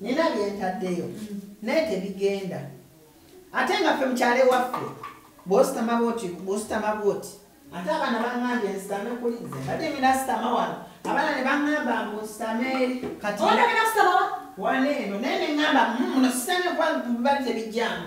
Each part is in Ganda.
nina byentaddeyo naye tebigenda ate nga ffe mukyalo ewaffe bwositama bwoti bwositama bwoti ate abaana bangambye nsitame kuli nze mbadde mina sitama wano abaana ne bangamba mbu nsitame eri kati wano eno naye ne ngamba muno sitame kuba bali tebijjamu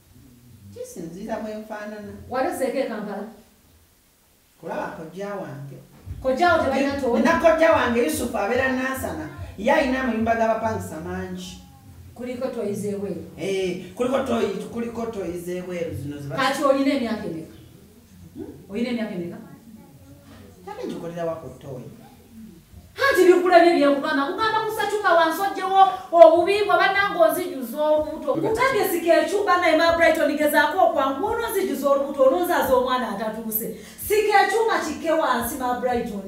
kisinziira bwe nfaanana wali oseeko e kampala kulaba kojja wange kojjawo tebalina too na kojja wange yusufu abeera nansana ye alina amayumba g'abapangisa mangi kuliko toyizeebweru eh, kuliko toyi kuliko toyizeebweru zino kati olina emyaka emeka oyina emyaka emeka tabi ngikolera wako toyi anti bikulabye byekugamba kugamba kusatuka wansi ojjewo obubi bwa banange onzijuza olubuto kutandisika ekyumba naye ma brighton gezaako okwangu ononzijuza olubuto ononzaza omwana atatuuse sika ekyuma kikke wansi ma brighton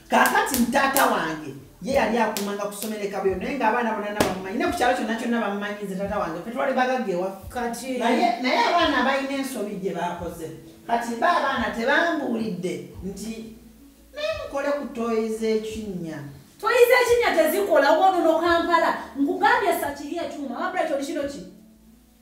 kakati mutaata wange ye yali akumanga kusomera ekabuyo naye nga abaana bonana bamumanyi ne ku kyalo kyonna kyonna bamumanyi nze taata wange fe twali bagagga ewafukatinaye naye abaana balina ensobi gye bakoze kati ba abaana tebambuulidde nti naye mukole ku toyi z'ekinnya toyi z'ekinnya tezikola wonono kampala nkugambye sakiri ekyuma ababula kyoli kino ki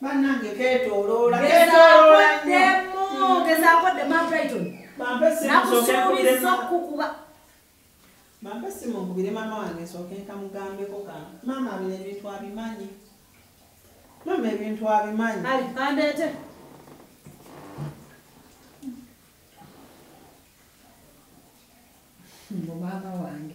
Banange ketoloola ketoloola nnyo. Gezaako ddemu hmm. Brighton. Nakusuubizza okukuba. Mampe simu nkubire maama wange nsooke nkamugambeko ka maama bino ebintu abimanyi. Maama ebintu abimanyi. Ali kandeete. Mbu maama wange.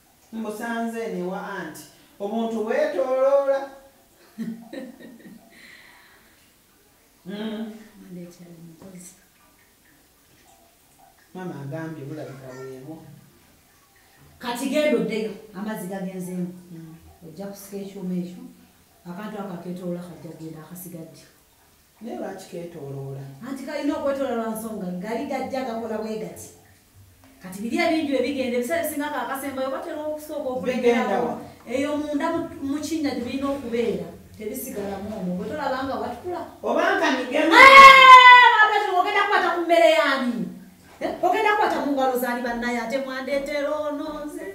Mbusanze eno ewa anti obuntu bwetoloola. Hmm. Mama agambye bulabika bwebwo. Kati genda oddeyo amazzi gagenzeemu hmm. ojja kusika ekyuma ekyo akantu ako aketoloola kajja kugenda akasigadde. naye lwaki ketoloola anti kalina okwetoola lwa nsonga gali gajja gakola bwe gati kati biri ebingi bye bigenda ebiseera ebisinga kaakasembayo batera okusooka okulegerao eyo munda mu kinnya gye birina okubeera tebisigalamu omu bwe tolaba nga watukula obanga nigemogenda kukwata ku mmere yani eh, ogenda kukwata mu ngalo zani bannaye ate mwandeetera ono nze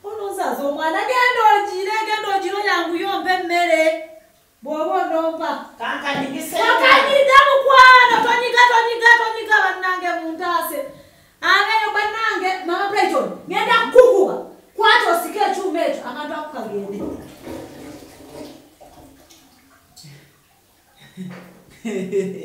ono nzaza omwana genda ogire genda ogire oyanguyo mpa emmere Bw'oba onompa. Kankanyigise. Kakanyiga mukwano tonyiga tonyiga tonyiga bannange muntaase. Abeeyo bannange mama Brighton ngenda kukukuba kwata osike ekyuma ekyo akantu ako kagende. Hehehehe.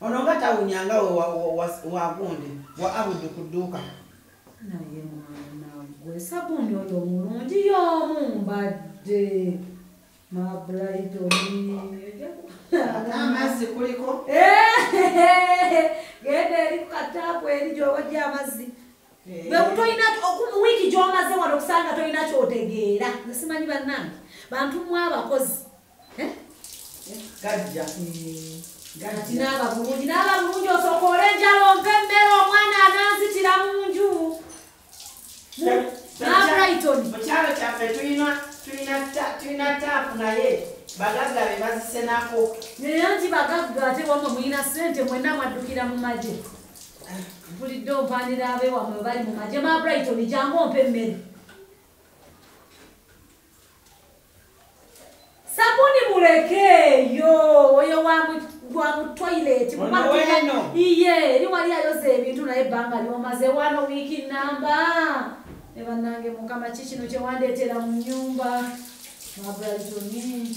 Ono nga tawunya nga we wagundi wa abudu ku dduuka. Naye mwana gwe sabuuni oyo omulungi y'omu mbadde mabrayiti oamazzi kuliko genda eri ku kataapu eri gy'owajja amazzi eh. bwe kutolina wiiki gy'omaze wano okusanga tolina kyotegeera nsimanyi bannange bantu mwabakozi gajja kati naaba bulungi naaba bulungi osooka olenjala ompa emmere omwana ananzitira mu nju nabrighton mu kyalo kyaffe tulina taapu naye bagagga be bazisenako naye nti bagagga ate wamwe mulina sente mwena mwaddukira mu magye mpulidde ompanira abewamwe bali mu magye mabrighton jangu ompa emmere sabuni mulekeeyo oyo wamutoilet iye eri wali ayoza ebintu naye ebbanga lyomaze wano wiiki namba ne bannange mukama ki kino kyewandeetera mu nyumba mabraltoni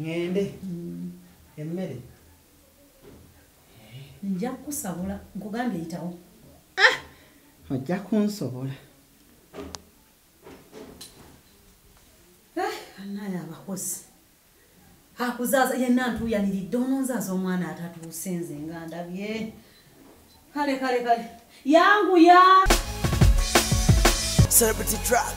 ŋŋende emmere nja kukusabula nkugambye yitawo ah! ojja kunsobola eh, anaye abakozi akuzaaza yenna ntuuyaniridde ononzaaza omwana atatuuse nze nga ndabye kale kale kale yanguya celebrity track